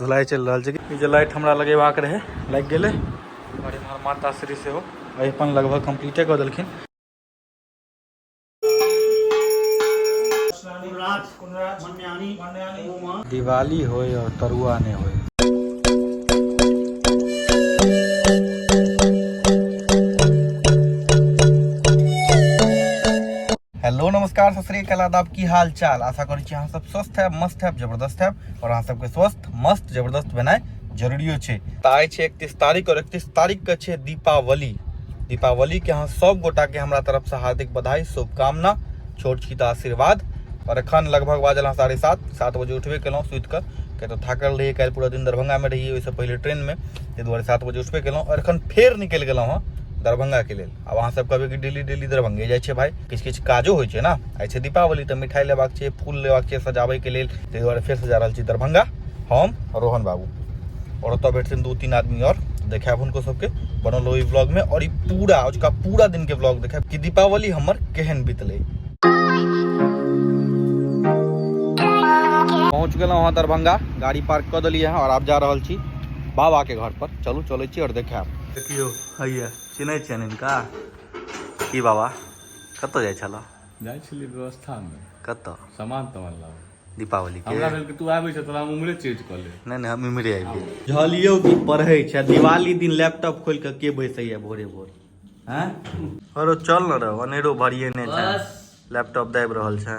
धुलाई चलि रहल छै ई जे लाइट हमरा लगेबाक रहै लागि गेलै आओर एम्हर माता श्री सेहो अपन लगभग कम्प्लीटे कऽ देलखिन दिवाली होय और तरुआ नहीं होय हेलो नमस्कार सत श्रीकाल आदाब की हाल चाल आशा करै छी अहाँ सब स्वस्थ हैब मस्त हैब जबरदस्त हैब और अहाँ सबके स्वस्थ मस्त जबरदस्त भेनाइ जरूरियो छै तऽ आइ छै एकतीस तारीख और एकतीस तारीख के छै दीपावली दीपावली के अहाँ सब गोटा के हमरा तरफ से हार्दिक बधाई शुभकामना छोट छी तऽ आशीर्वाद और एखन लगभग बाजल अहाँ साढ़े सात सात बजे उठबे केलहुँ सुति कऽ किया तऽ थाकल रहियै काल्हि पूरा दिन दरभंगामे रहियै ओहिसँ पहिले ट्रेनमे ताहि दुआरे सात बजे उठबे केलहुँ और एखन फेर निकलि गेलहुँ हँ दरभंगाके लेल आब अहाँ सब कहबै कि डेली डेली दरभंगे जाइ छै भाई किछु किछु काजो होइ छै ने आइ छै दीपावली तऽ मिठाई लेबाक छै फूल लेबाक छै सजाबैके लेल ताहि दुआरे फेरसँ जा रहल छी दरभंगा हम रोहन बाबू आओर ओतऽ भेटथिन दू तीन आदमी आओर देखायब हुनको सबके बनल ओहि ब्लॉगमे आओर ई पूरा अजुका पूरा दिनके ब्लॉग देखायब कि दीपावली हमर केहन बितलै पहुँच गेलहुँ हँ दरभंगा गाड़ी पार्क कऽ देलियै हँ आओर आब जा रहल छी बाबाके घरपर चलू चलै छी आओर देखायब देखियौ हैया चिन्है छियनि हिनका की बाबा कतऽ जाइ छलऽ जाइ छलियै व्यवस्थामे कतऽ सामान तामान लाबऽ दीपावली के हमरा भेल कि तू आबै छऽ तोरा हम उम्हरे चेंज कऽ ले नहि नहि हम इम्हरे आबि गेली बुझलियौ कि पढ़ै छै दिवाली दिन लैपटॉप खोलि कऽ के बैसैया भोरे भोर हैं अरे चल न रे अनेरो भरिए नहि छै लैपटॉप दाबि रहल छै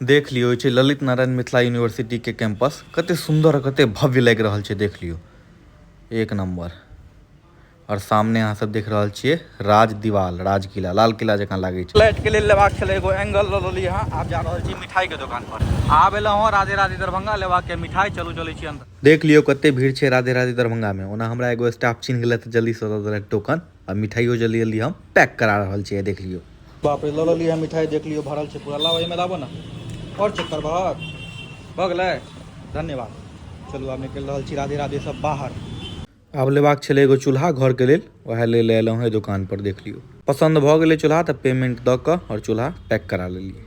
देख लियो छै ललित नारायण मिथिला यूनिवर्सिटी के कैंपस कते सुंदर कते भव्य लग रहल छै देख लियो एक नंबर और सामने अहाँ सब देख रहल छियै राज दीवाल राज किला लाल किला जकाँ लागे छै लाइट के लेल लेबाक छले एगो एंगल ल लेली हां आब जा रहल छी मिठाई के दुकान पर आब एला हां राधे राधे दरभंगा लेबाक के मिठाई चलू चले छी अंदर देख लियो कते भीड़ छै राधे राधे दरभंगा में ओना हमरा एगो स्टाफ चिन्ह गेले त जल्दी से दे देलक टोकन आ मिठाइयो जे ले लियो हम पैक करा रहल छी देख लियो बाप रे लल लियो मिठाई देख लियो भरल छै पूरा लाओ एमे लाबो ना और चेक कर बाहर भ गेलै धन्यवाद चलू आब निकल रहल छी राधे राधे सब बाहर आब लेबाक छलै एगो चूल्हा घर के लेल वह ले ले एलहुँ है दुकान पर देख लियो पसंद भ गेलै चूल्हा त पेमेंट द क और चूल्हा पैक करा लेलिए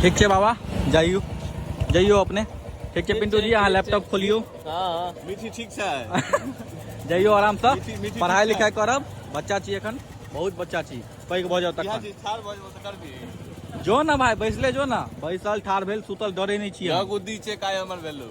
ठीक है बाबा जाइयो जाइयो अपने ठीक है पिंटू जी यहाँ लैपटॉप खोलियो हाँ। मीठी ठीक से जाइयो आराम से पढ़ाई लिखाई करब बच्चा छी एखन बहुत बच्चा छी पैघ भऽ जाओ तक जो ना भाई बैसले जो ना बैसल ठार भेल सुतल डरे नहीं छी बुद्धि छै काय हमर भेलू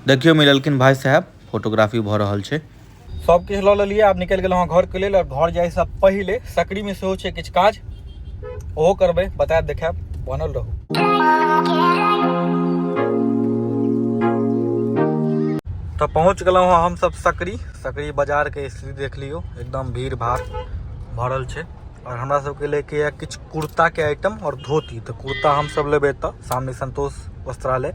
देखियो मिललखिन भाई साहब फोटोग्राफी भ रहल छै सब किछ ल लेलिए आब निकल गेल हां घर के लेल और घर जाय से पहले सकरी में सेहो छै किछ काज ओहो करबे बता देखाब बनल रहू तो पहुंच गलो हां हम सब सकरी सकरी बाजार के स्थिति देख लियो एकदम भीड़ भाड़ भरल छै और हमरा सब के लेके किछ कुर्ता के आइटम और धोती तो कुर्ता हम सब लेबे त सामने संतोष वस्त्रालय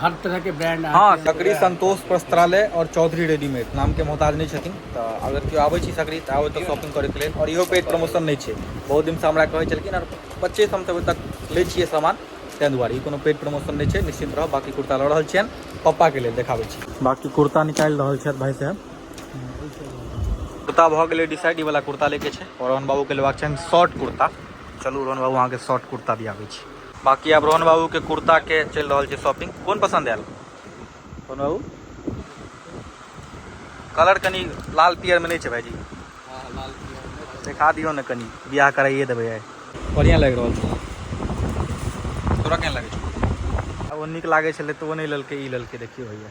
हर तरह के ब्रांड हाँ सकरी संतोष वस्त्रालय और चौधरी रेडीमेड नाम के मोहताज नहीं छथिन तो अगर क्यों आवे छी सकरी तो आवे तो शॉपिंग करे के लिए और इहो पे प्रमोशन नहीं छे बहुत दिन से हमरा कहे चलकिन और पच्चीस हम तब तक ले छे सामान तें दुआरे कोनो पेड प्रमोशन नहीं छे निश्चिंत रहो बाकी कुर्ता लड़ रहा छियन पप्पा के लिए देखाबे छी बाकी कुर्ता निकाल रहा छे भाई साहब कुर्ता भऽ गेलै डिसाइड वाला कुर्ता लेके छे और रोहन बाबू के लेबाक छनि शॉर्ट कुर्ता चलू रोहन बाबू अहाँके शॉर्ट कुर्ता दियाबै छी बाकी आब रोहन बाबू के कुर्ता के चल रहा है शॉपिंग कौन पसंद आयल रोहन बाबू कलर कनी लाल पियर में नहीं है भाईजी हाँ, देखा दियो ना कनी ब्याह कराइए देवे है बढ़िया लग रहा है तोरा केहन लगे अब निक लागे तो वो नहीं ललके ललके देखियो भैया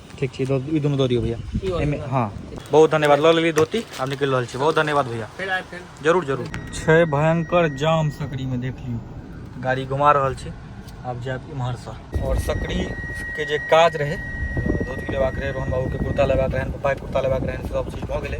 ठीक छै ई दुनू दऽ दियौ भैया एहिमे हँ बहुत धन्यवाद लऽ लेलियै धोती आब निकलि रहल छी बहुत धन्यवाद भैया जरूर जरूर छै भयंकर जाम सकरीमे देख लियौ गाड़ी घुमा रहल छी आब जायब इम्हरसँ आओर सकरीके जे काज रहै धोती लेबाक रहै रोहन बाबूके कुर्ता लेबाक रहनि पप्पाके कुर्ता लेबाक रहनि सभ चीज भऽ गेलै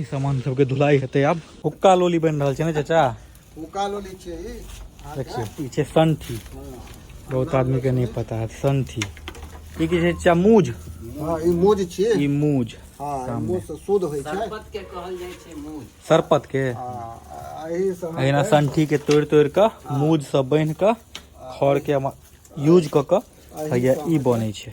ई सामान सबके धुलाई हेतै आब हुक्का लोली बनि रहल छै ने चाचा हुक्का लोली छै ई देखियौ ई छै संठी बहुत आदमी के नहि पता है संठी ई की छै चाचा मूज हाँ ई मूज छै ई मूज हाँ मूज से शुद्ध होइ छै सरपत के कहल जाइ छै मूज सरपत के अहिना संठी के तोड़ि तोड़ि कऽ मूज सब बान्हि कऽ खड़ के यूज कऽ कऽ हैया ई बनै छै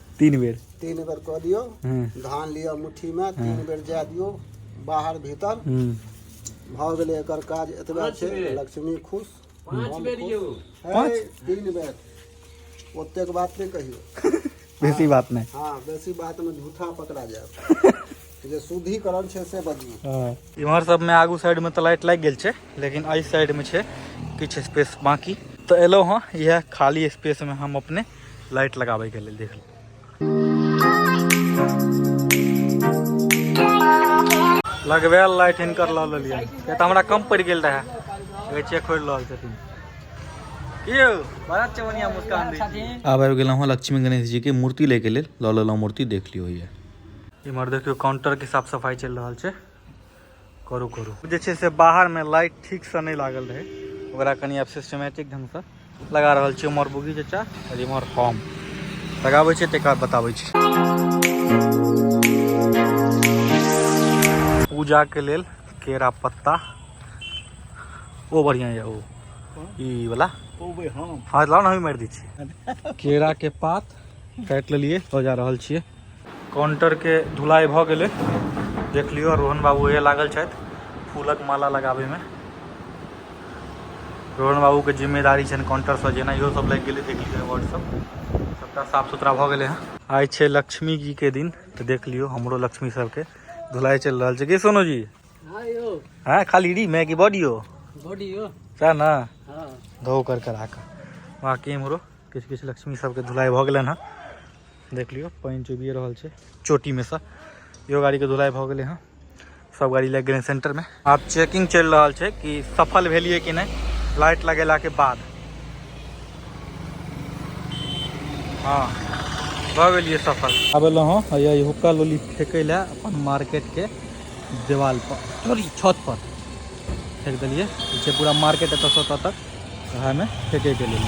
तीन बेर तीन बेर कऽ दियौ हँ धान लिअ मुट्ठीमे तीन बेर जाए दियौ बाहर भीतर हूँ भऽ गेलै एकर काज एतबे छै लक्ष्मी खुश पाँच बेर यौ पाँच तीन बेर ओतेक बात नहि कहियौ बेसी बात नहि हाँ बेसी बात में झूठा पकड़ा जाए जे शुद्धिकरण छै से बजियौ हँ इम्हर सबमे आगू साइडमे तऽ लाइट लागि गेल छै लेकिन एहि साइडमे छै किछु स्पेस बाँकी तऽ एलहुँ हँ इएह खाली स्पेसमे हम अपने लाइट लगाबैके लेल देख लगबैल लाइट हिनकर लऽ लेलियै किया तऽ हमरा कम पड़ि गेल रहए कहै छियै खोलि रहल छथिन आब आबि गेलहुँ हँ लक्ष्मी गणेश जीके मूर्ति लैके लेल लऽ लेलहुँ मूर्ति देख लियौ यऽ इमर देखियो काउंटर के साफ सफाई चल रहा है करू करू जैसे से बाहर में लाइट ठीक से नहीं लागल रहे ओकरा कनी आप सिस्टमेटिक ढंग से लगा रहा छे उमर बुगी चचा और इमर हम लगाबे छे तेकर बताबे छे पूजा के लेल केरा पत्ता ओ बढ़िया है ओ ई वाला ओ भाई हम हां लाओ ना हम मार दी छी केरा के पात काटि लेलिए लऽ जा रहल छियै काउंटरके धुलाइ भऽ गेलै देख लियौ रोहन बाबू ओहे लागल छथि फूलक माला लगाबैमे रोहन बाबूके जिम्मेदारी छनि काउंटरसँ जेना इहो सब लागि गेलै देख लियौ वर्ड सब सबटा साफ सुथरा भऽ गेलै हँ आइ छै लक्ष्मी जीके दिन तऽ देख लियौ हमरो लक्ष्मी सबके धुलाइ चलि रहल छै की सोनू जी हँ खाली री मैगी बॉडियो बॉडियो सएह ने धो कर करा कऽ बाँकी इम्हरो किछु किछु लक्ष्मी सबके धुलाई भऽ गेलनि हँ देख लियौ पानि चुबिए रहल छै चोटीमे सँ इहो गाड़ीके धुलाई भऽ गेलै हँ सब गाड़ी लागि गेलै सेंटरमे आब चेकिंग चलि रहल छै कि सफल भेलियै कि नहि लाइट लगेलाके बाद हँ भऽ गेलियै सफल आब एलहुँ हँ ये हुक्का लोली फेकै लए अपन मार्केटके देवालपर सॉरी छतपर फेक देलियै जे पूरा मार्केट एतऽसँ ओतऽ तक उएहमे फेकैके लेल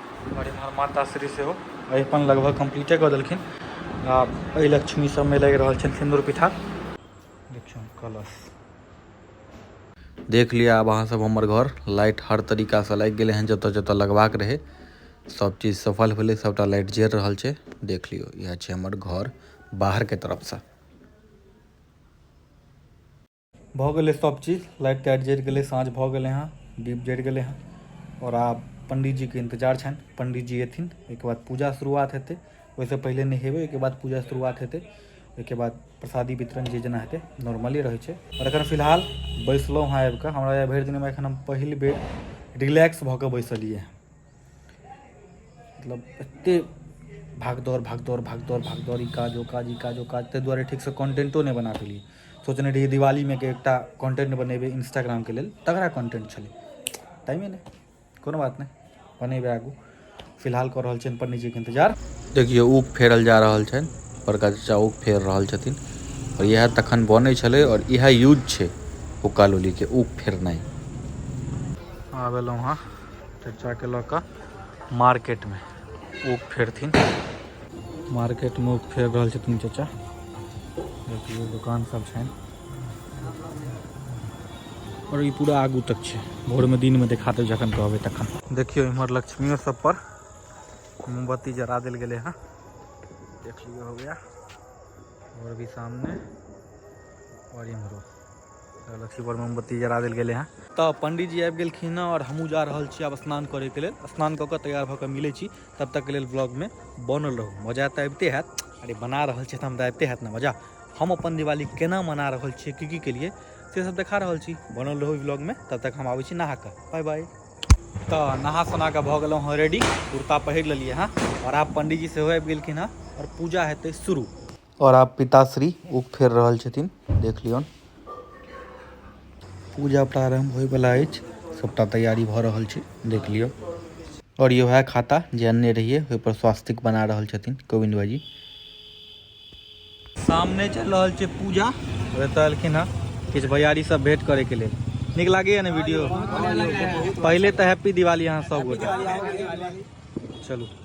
आओर एमहर माताश्री सेहो अरिपन लगभग कम्प्लीटे कऽ देलखिन आ एहि लक्ष्मी सबमे लागि रहल छनि सिन्दूर पिठा देखियौ कलश देख लिअ आब अहाँसभ हमर घर लाइट हर तरीकासँ लागि गेलै हँ जतऽ जतऽ लगबाक रहै सब चीज सफल भेलै सबटा लाइट जरि रहल छै देख लियौ इएह छै हमर घर बाहरके तरफसँ भऽ गेलै सब चीज लाइट ताइट जरि गेलै साँझ भऽ गेलै हँ दीप जरि गेलै हँ आओर आब पण्डीजीके इन्तजार छनि पण्डीजी अएथिन ओहिके बाद पूजा शुरुआत हेतै ओहिसँ पहिले नहेबै ओहिके बाद पूजा शुरुआत हेतै ओहिके बाद प्रसादी वितरण जे जेना हेतै नॉर्मले रहै छै आओर एखन फिलहाल बैसलहुँ हँ आबिकऽ हमरा भरि दिनमे एखन हम पहिल बेर रिलैक्स भऽ कऽ बैसलिए हँ मतलब एते भाग दौड़ भाग दौड़ भाग दौड़ भाग दौड़ ई काज ओ काज ई काज ओ काज ताहि दुआरे ठीकसँ कॉन्टेंटो नहि बना पेलियै सोचने रहियै दिवालीमे के एकटा कॉन्टेंट बनेबै इंस्टाग्रामके लेल तगड़ा कॉन्टेंट छलै टाइमे नहि कोनो बात नहि बनेबै आगू फिलहाल कऽ रहल छियनि पंडीजीके इंतजार देखियौ ऊख फेरल जा रहल छनि बड़का चचा ऊख फेर रहल छथिन आओर इएह तखन बनै छलै आओर इएह यूज छै हुक्का लोलीके ऊख फेरनाइ आबि एलहुँ हँ चचाके लऽ कऽ मार्केटमे ओ फेरथिन मार्केटमे ओ फेर रहल छथिन चचा देखियौ दोकान सब छनि और ई पूरा आगू तक छै भोरमे दिनमे देखा देब जखन कहबै तखन देखियौ इम्हर लक्ष्मियो सब पर मोमबत्ती जरा देल गेलै हँ देख लियौ हो गया और भी सामने और इम्हरो लक्ष्मी पर मोमबत्ती जरा देल गेलै हँ तऽ पंडीजी आबि गेलखिन हँ आओर हमहूँ जा रहल छी आब स्नान करैके लेल स्नान कऽ कऽ तैयार भऽ कऽ मिलै छी तब तकके लेल ब्लॉगमे बनल रहू मजा तऽ अबिते हैत अरे बना रहल छी तऽ हमरा अबिते हैत ने मजा हम अपन दिवाली केना मना रहल छियै की की केलिए से सब देखा रहल छी बनल रहू ब्लॉगमे तब तक हम आबै छी नहा कऽ बाय बाय तऽ नहा सोना कऽ भऽ गेलहुँ हँ रेडी कुर्ता पहिर लेलिए हँ आओर आब पंडीजी सेहो आबि गेलखिन हँ आओर पूजा हेतै शुरू और आब पिताश्री उख फेर रहल छथिन देख लियौन पूजा प्रारंभ होय वाला अछि सबटा तैयारी भऽ रहल छै देख लियौ और ये वएह खाता जे अन्ने रहिए ओहि पर स्वास्तिक बना रहल छथिन गोविंद भाईजी सामने चल रहल छै पूजा एतऽ एलखिन हँ किछु भैयारी सब भेंट करे के लिए निक लगे ने वीडियो पहले तो हैप्पी दिवाली अहाँ सब गोटा चलू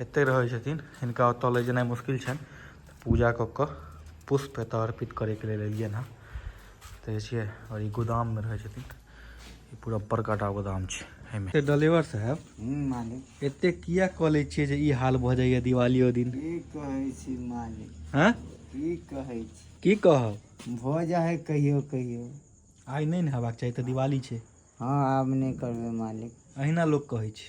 एतय रहै छथिन हिनका ओतऽ लए जेनाइ मुश्किल छनि तऽ पूजा कऽ कऽ पुष्प एतऽ अर्पित करैके लेल एलियनि हँ देखै छियै आओर ई गोदाममे रहै छथिन ई पूरा बड़का टा गोदाम छै एहिमे से डलेवर साहब हूँ मालिक एते किया कऽ लै छियै जे ई हाल भऽ जाइए दिवालियो दिन की कहै छी मालिक हँ की कहै छी की कहब भऽ जा है कहियो कहियो आइ नहि ने हेबाक चाही तऽ दिवाली छै हँ आब नहि करबै मालिक अहिना लोक कहै छै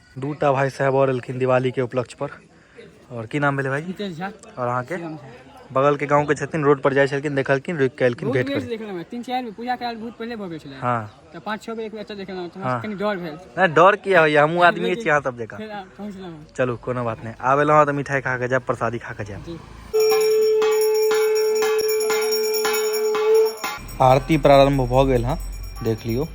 दू टा भाई साहब और एलखिन दिवाली के उपलक्ष्य पर और की नाम भेले भाई नितेश झा और अहाँ के बगल के गांव के छथिन रोड पर जाय छलखिन देखलखिन रुक के एलखिन भेट कर देखल हम तीन चार में पूजा कराल बहुत पहले भवे छले हां तो पांच छह बजे एक बच्चा देखल हम तो हाँ। कनी डर भेल ना डर किया होइया हमहू आदमी छी अहाँ सब जका फिर आ, पहुंचलहुं चलू कोनो बात नहीं आबे लहँ तऽ मिठाई खा के जायब प्रसादी खा के जायब जी आरती प्रारंभ भ गेल हँ देख लियो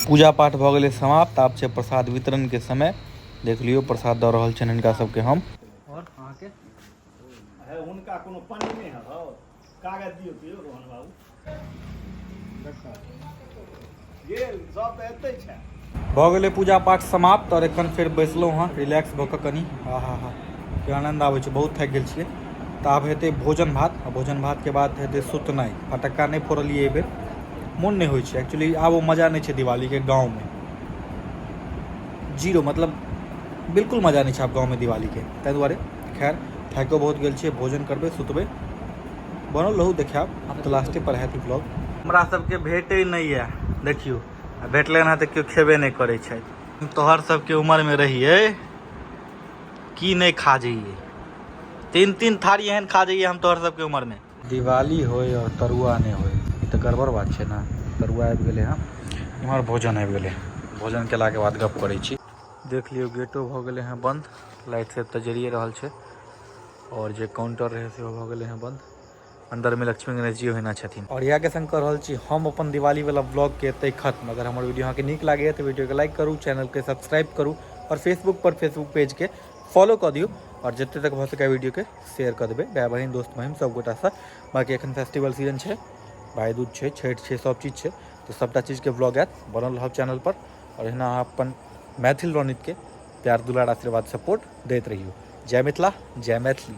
पूजा पाठ भ गेल समाप्त आब छै प्रसाद वितरण के समय देख लियो प्रसाद द रहल छन इनका सबके हम और अहाँ के हुनका कोनो पानी नहीं है कागज दियौ तऽ यौ रोहन बाबू गेल सब तऽ एतै छै भऽ गेलै पूजा पाठ समाप्त आओर एखन फेर बैसलहुँ हँ रिलैक्स भऽ कऽ कनि हा हा हा के आनन्द आबै छै बहुत थाकि गेल छियै तऽ आब हेतै भोजन भात आ भोजन भातके बाद हेतै सुतनाइ फटक्का नहि फोड़लियै एहि बेर मोन नहि होइ छै एक्चुअली आब ओ मजा नहि छै दिवालीके गाँवमे जीरो मतलब बिल्कुल मजा नहि छै आब गाँवमे दिवालीके ताहि दुआरे खैर थाकिओ बहुत गेल छियै भोजन करबै सुतबै बनल रहू देखायब आब तऽ लास्टे पर हैत ई ब्लॉग हमरा सबके भेटै नहि यऽ देखियौ आ भेटलै हँ तऽ केओ खेबे नहि करै छथि तोहर सबके उमरमे रहियै की नहि खा जइयै तीन तीन थारी एहन खा जइयै हम तोहर सबके उमरमे दिवाली होय और तरुआ नहि होय ई तऽ गड़बड़ बात छै ने तरुआ आबि गेलै हँ इम्हर भोजन आबि गेलै भोजन केलाके बाद गप करै छी देख लियो गेटो भ गेले है बंद लाइट सब त जरिये रहल छै और जे काउंटर रहे से भ गेले है बंद अंदर में लक्ष्मी गणेश जी होना छथिन और इएह के संग कर रहल छी हम अपन दिवाली वाला ब्लॉग के एते खत्म अगर हमर वीडियो अहाँ के नीक लागैए तऽ वीडियो के लाइक करू चैनल के सब्सक्राइब करू और फेसबुक पर फेसबुक पेज के फॉलो कर दियो और जते तक भ सके वीडियो के शेयर कर देबे भाई बहन दोस्त महिम सब गोटा से बाकी एखन फेस्टिवल सीजन छै भाई दूज छै छठ छै सब चीज छै तो सबटा चीज के ब्लॉग आयत बनल रहब चैनल पर आओर एहिना अहाँ अपन मैथिल रौनितके प्यार दुलार आशीर्वाद सपोर्ट दैत रहियौ जय मिथिला जय मैथिली